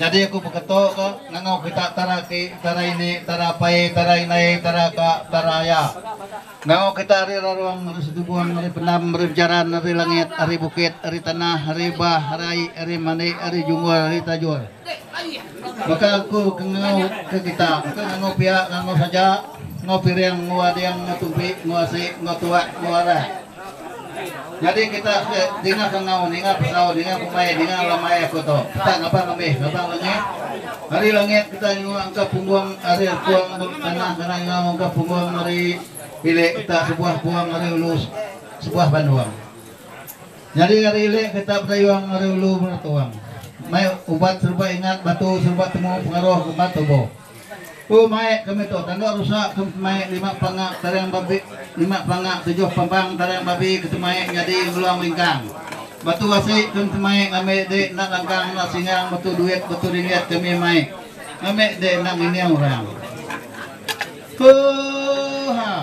Nyadi aku beketo ka ngangau kita tara ki, tara ini, tara apai, tara indai, tara ka, tara aya. Ngangau kita ari rarong, ari setubung, ari pendam, ari bejaran, ari langit, ari bukit, ari tanah, ari bah, ari ai, ari mandi, ari junggul, ari tajur. Baka aku ke ngangau ke kita, engka ngangau pia, ngangau saja, ngau piring, ngau ading, ngau tumpi, ngau asi, ngau tuak, ngau arak. Nyadi kita ke dinga kengau, ninga pekau, ninga pemai, ninga alamai aku tu. Kita ngabang amih, ngabang langit. Ari langit kita nyengua engka punggung ari erpung ba tanah kena nyengau engka punggung ari ilik kita sebuah pung ari ulu sebuah bandung. Nyadi ari ilik kita bedayung ari ulu beratung. Mai ubat serba ingat batu serba temu pengaruh ngemban tubuh. Ku Maik kami tu tanda rusa ke maik lima panga tarang babi lima panga tujuh pambang tarang babi ke temaik nyadi ngeluang lingkang. Batu asi ke temaik ngambi di enda langkang enda singang batu duit batu ringgit kami maik ngambi di enda ngining orang. Oohh.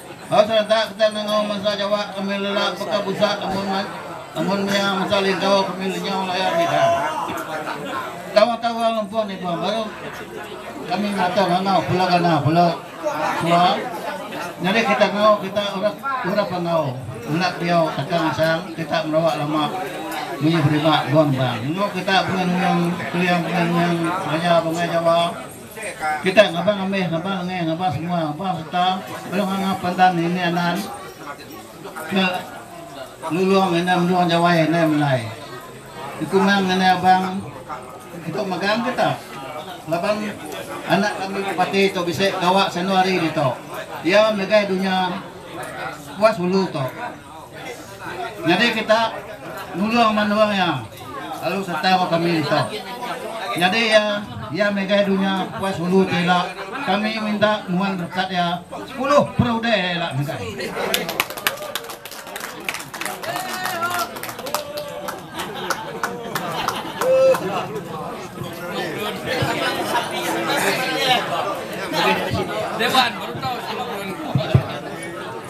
Ba serentak kita nengau mensia Jawa kami lelak beka busak amun amun mia mensia Lingkau kami lenyau layar bidang. Tawakka urang lempun ni bang baru kami ngata ngangau pula gana pula sua nyadi kita ngau kita urap urap enggau ulat diau takang asang kita merawa lama munyi berima bang bang. Nengau kita bengang bengang keliang bengang bengang maya bengai Jawa. Kitai ngabang amih, ngabang engih, ngabang semua, ngabang serta lalu nganga pandan nini anan ke lulong ngena menua Jawai indai melai. Dikumang ngena abang ento megang ke tah laban anak kami ke pati tu bisi gawa sanu hari ditu. Iya megai dunya puas ulu tu. Nyadi kita nulung menua iya lalu sereta enggau kami ditu. Nyadi iya iya mega dunya Kuas Hulu ti ila kami minta muan berkat iya sepuluh perudah iya ila mega.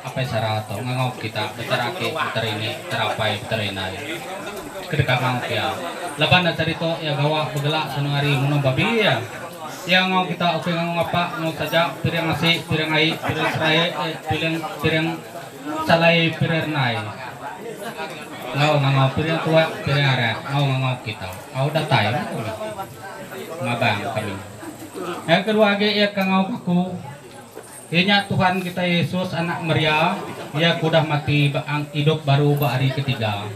Apai Sara tu ngangau kita beteraki beterini terapai beterinai ke deka ngau pia. Laban enda tadi tu iya gawa begelak senung ari munung babi iya. Iya ngau kita ukai ngangau ngapa enggau saja piring asi, piring ai, piring serai, piring piring salai, piring renai. Enggau ngangau piring tua, piring arak enggau ngangau kita. Au datai meh tu mih. Ngabang kami. Yang kedua agi iya ka ngau aku. Iya nya Tuhan kitai Yesus anak Maria, iya ke udah mati ba ang idup baru ba hari ketiga.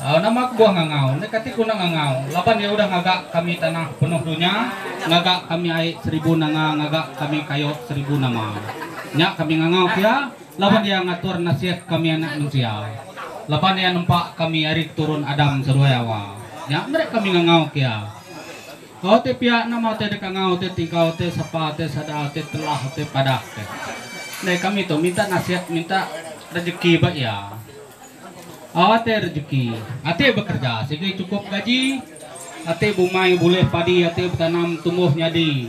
Au nama kebuah ngangau, endai kati guna ngangau, laban iya udah ngaga kami tanah penuh dunya, ngaga kami ai seribu nanga ngaga kami kayu seribu nama. Nya kami ngangau pia, laban iya ngatur nasit kami anak mensia. Laban iya nempa kami ari keturun Adam seduai awa, nya meri kami ngangau pia. Kau ti piak nama te deka ngau te tigau te sepa te sada te telah te padah te. Andai kami tu minta nasihat minta rejeki ba iya. Awa te rejeki, ati bekerja sigi cukup gaji, ati bumai bulih padi ati betanam tumbuh nyadi.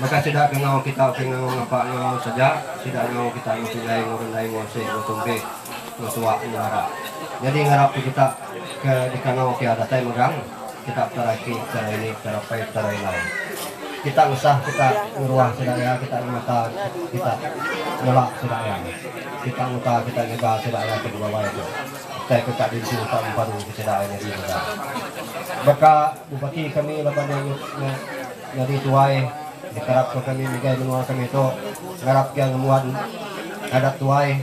Maka sida kengau kita ukai ngangau ngapa enggau mau saja, sida ngau kita enggau pingai enggau rendai enggau ese enggau tumpik enggau tuak enggau arap. Nyadi ngarap ke kita ke dikangau pia datai megang kita petara iti petara ini petara pai petara ila. Kita ngesah kita ngeruah sida iya kita ngemata kita ngelak sida iya. Kita nguta kita nyega sida iya ke dibawai tu. Utai ke ka dintu ka mempadu ke sida iya nyadi mega. Baka bupati kami laban iya nyut nya. Nyadi tuai dikarap ka kami ngagai menua kami tu ngarap iya ngembuan adat tuai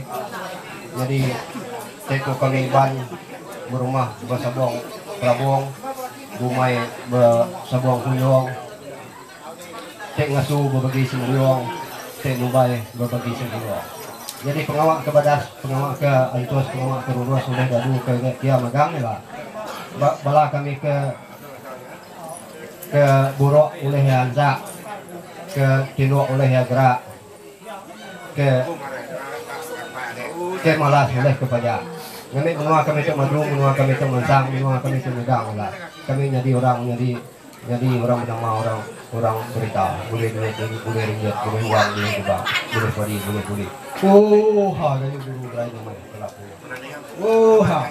nyadi seiku kami Iban berumah besabong kelabong bumai besabong kuyong ti ngesu bebagi sembiong ti nubai bebagi sengkuyong. Nyadi pengawa ke badas pengawa ke entus pengawa ke rurus ulih dadu ke kiya megang ila ba bala kami ke. Ke buruk ulih iya ansa, ke tinduk ulih iya gerak, ke ke malas ulih ke paja. Ngambika menua kami tu maju, menua kami tu mansang, menua kami tu nyudah orang ulah. Kami nyadi orang nyadi nyadi orang benama orang orang berita. Bulih duit, bulih ringgit, bulih wang, bulih kubang, bulih padi, bulih kulit. Ooh ha kayu guru berai nama iya. Ooh ha.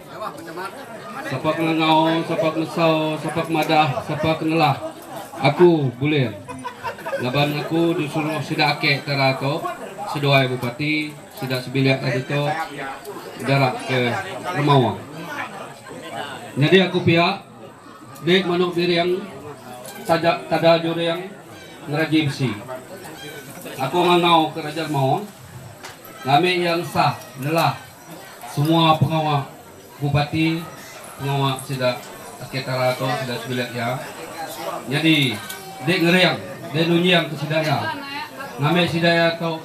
Sapa ke ngau, sapa ke mesau, sapa ke madah, sapa ke nelah aku bulin laban aku disuruh sida ake tara tu seduai bupati sida sebilik ari tu dara ke remawa. Nyadi aku pia meh manuk biring taja tada juring ngeraji besi. Aku ngangau ke raja remawa ngambi iya ngesah nelah. Semua pengawa bupati, pengawa sida Akei Tara tu sida sebilik iya. Nyadi dei ngering, dei nunjingka sida iya. Ngambi sida iya tu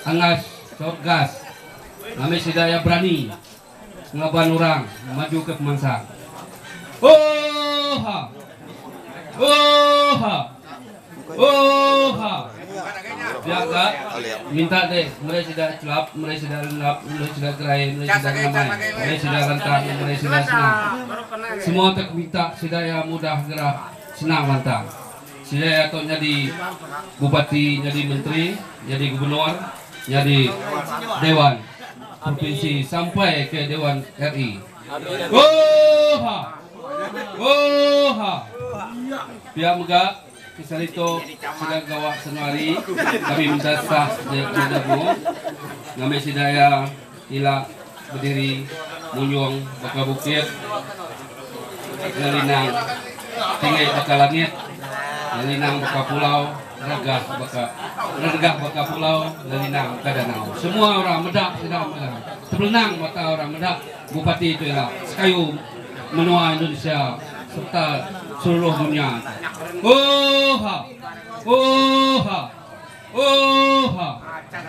angas taun gas. Ngambi sida iya berani ngelaban orang majuka pemansang. Oohha! Oohha! Oohha. Yak ka. Minta deh. Meri sida celap, meri sida lendap, meri sida gerai, meri sida ngamai, meri sida lantang, meri sida senang. Semua tek minta sida iya mudah gerah, senang lantang. Sida iya tu nyadi Bupati, nyadi Menteri, nyadi Gubernur, nyadi Dewan Propinsi sampai ke Dewan RE. Ooha! Ooha! Pia mega kisah ditu sida gawa sanu hari kami meda sah daya pemada buh ngambi sida iya ila bediri munyung baka bukit ngelinang tinggi baka langit ngelinang baka pulau. Regah baka regah baka pulau Lelinang ka danau. Semua orang meda sida mega tepelenang mata orang meda bupati tu ila sekayu menua Indonesia serta seluruh dunya tu. Oohha! Oohha! Oohha!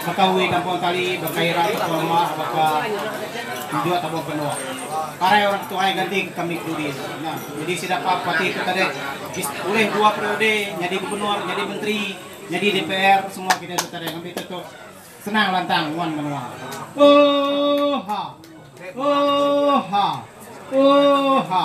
Baka uwi tampung tali, baka ira tampung ruma, baka penjut tampung penuk. Parai orang ketuhai ganti ke kami kudi tu. Nah, jadi sida pa parti tu tadi ulih dua periode nyadi gubernur, nyadi menteri, nyadi dpr semua kitai tu tadi ngambi tu senang lantang nguan menua. Oohh ha. Oohh ha. Oohh ha.